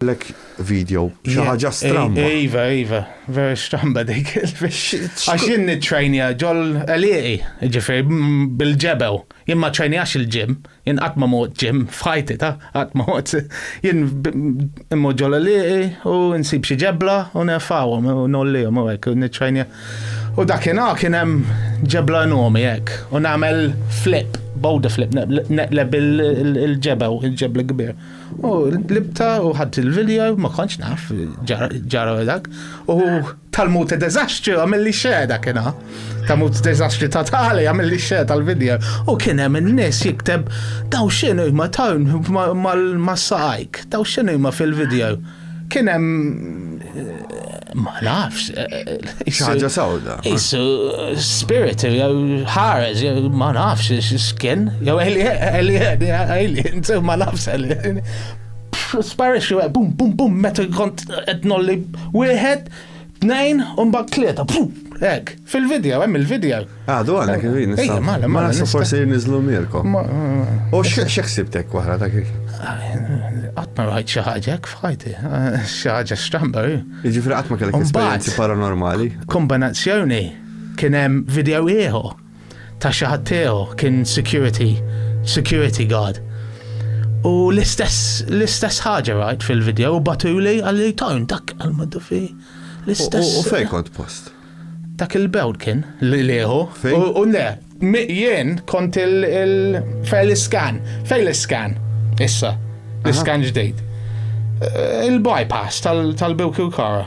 Għalhekk video, xi ħaġa stramba. Iva, iva, vera stramba dik. Għax jien nitrajnija ġol eliqi, ġifir, bil-ġebew. Jien ma trajnijax il-ġim, jien qatt ma mod ġim, fħajti ta' qatt ma mod. Jien immu ġol eliqi u nsib xi ġebla u nefawhom u nollihom u hekk nitrajnija. U dakinhar kien hemm ġebla nomi hekk u nagħmel flip, bowda flip, neqleb il-ġebew, il-ġebla kbir. U libta u ħadd il-video, ma kontx naf, ġara dak. U tal-mut deżastri għamil li xe dak kena. Ta' mut deżastri ta' tali għamil li xe tal-video. U kien hemm in-nies jikteb daw xinu ma tawn ma saqajk, daw xinu ma fil-video. Kien hemm ma nafx. Xaġa sawda. Isu spirit jew ħareġ jew ma nafx x'kien jew eli eli inti ma nafx eli. Sparixxi bum bum bum meta kont qed nolli wieħed Tnejn, u mbagħad tlieta, hekk, fil-video, hemm il-video. Għadu għandna kif jien. Ejja, mala, mala. Nasu forsi niżlu mirkom. U x'eħsibtek waħra ta' kif? Qatt ma rajt xi ħaġa hekk f'ħajti, xi ħaġa stramba. Jiġifieri qatt ma kellek esperjenzi paranormali. Kombinazzjoni kien hemm video ieħor ta' xi ħadd tiegħu, kien security, security guard. U l-istess, l-istess ħaġa rajt fil-video, u batuli għalli tajn dak għal-maddu fi. L-istess. U fej kont post? Dak il-bewd kien, li liħu. U le, jien kont il-fej l-skan, fej l-skan, issa, l-skan ġdejt. Eh, il-bypass tal-bewk u kara.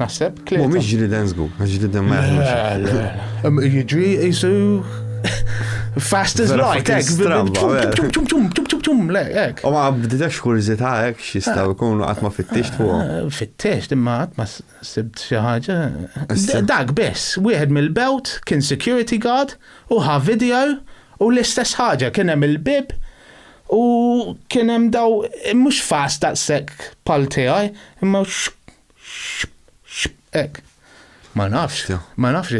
Naħseb klieta. Mhumiex ġriden żgur, għax ġriden ma jaħdmux. Jiġri jisu fast as light, ek, tum tum tum tum tum, le, ek. U ma bdidax kurzita, ek, xistaw ikunu għatma fit-tix fuq. Eh, fit-tix, imma għatma sibt xaħġa. Dak bess, wieħed mill-belt kien security guard u ħa video u l-istess ħaġa kien hemm il-bib u kien hemm daw mhux fast daqshekk pal tiegħi, imma Ek. Ma nafx, ma nafx.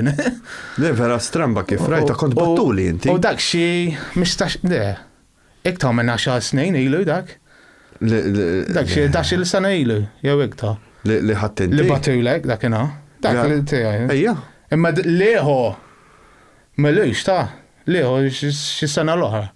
Le, vera stramba kif rajta kont battuli inti. U dak xi mistax, le, iktar minn 10 snin ilu dak. Dak xi dax il sena ilu, jew iktar. Li ħattin. Li batulek dak ina. Dak li tiegħi. Ejja. Imma liħu. Melux ta' liħu xi sena l-oħra.